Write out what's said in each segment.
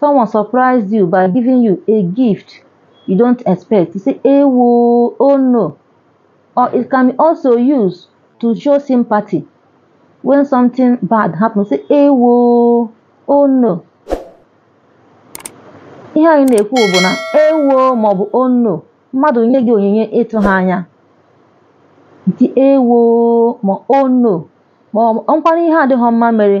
someone surprised you by giving you a gift you don't expect you say ewo oh no or it can be also used to show sympathy when something bad happen say ewo oh no ihe anyị na-ekwu bụ na ewo maọbụ oh no mmadụ nye gị onyinye ị tụghị anya i tie ewo ma oh no ma o nwekwara ihe adịghị mma mere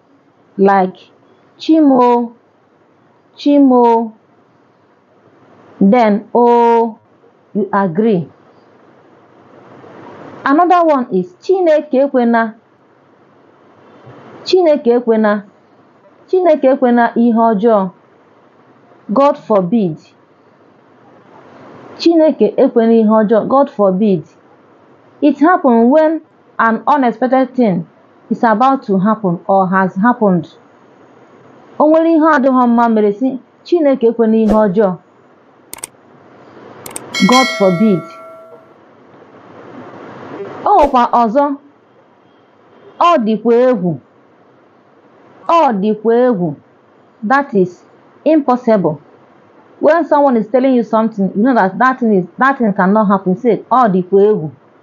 Like, Chi m o, Chi m o, then o, you agree. Another one is Chineke ekwena, Chineke ekwena, Chineke ekwena ihe ọjọọ, God forbid. Chineke ekwena ihe ọjọọ, God forbid. It happens when an unexpected thing is about to happen or has happened o nwere ihe adịghị mma mere sị Chineke ekwena ihe ọjọọ God forbid o nwekwa ọzọ ọ dịkwa egwu ọ dịkwa egwu that is impossible when someone is telling you something you know that that thing is that thing cannot happen say ọ dịkwa egwu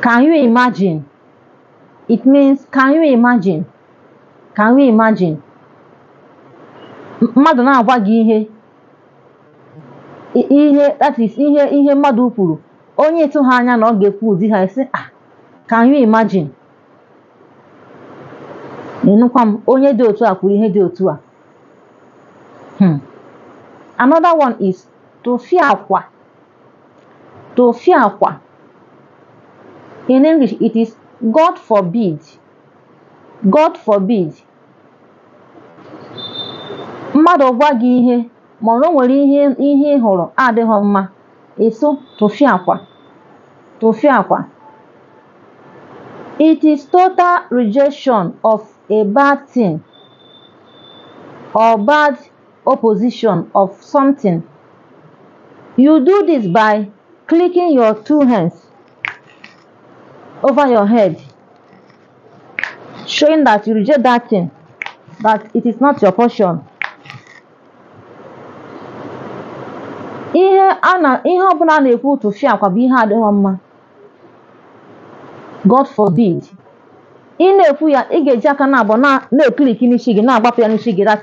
Can you imagine? It means can you imagine? Can you imagine? M- Mmadụ na-agwa gị ihe i- ihe that is ihe ihe mmadụ kwuru onye ị tụghị anya na ọ ga-ekwu ụdị ihe a ị sị ah can you imagine? Ịnụkwa m onye dị otu a kwuru ihe dị otu a. Hmm. Another one is tụfịakwa tụfịakwa in English it is God forbid God forbid mmadụ gwa gị ihe ma o nwere ihe ihe ị hụrụ adịghị mma ị sị tụfịakwa tụfịakwa it is total rejection of a bad thing or bad opposition of something. You do this by clicking your two hands over your head, showing that you reject that thing, that it is not your portion. ihe a na ihe ọbụla a na-ekwu tụfịakwa bụ ihe adịghị mma god forbid ị na-ekwu ya ị ga-eji aka naabọ na-ekliki n'isi gị na-agbapụ ya n'isi gị that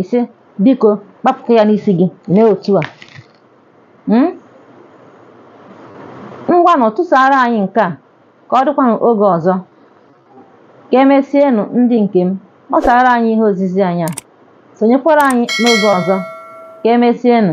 ise biko kpapụta ya n'isi gị mee otu a Hmm? ngwanụ tụsara anyị nke a ka ọ dịkwanụ oge ọzọ ka emesienụ ndị nke m gbasara anyị ihe ozizi anyị a sonyekwara anyị n'oge ọzọ ka emesienụ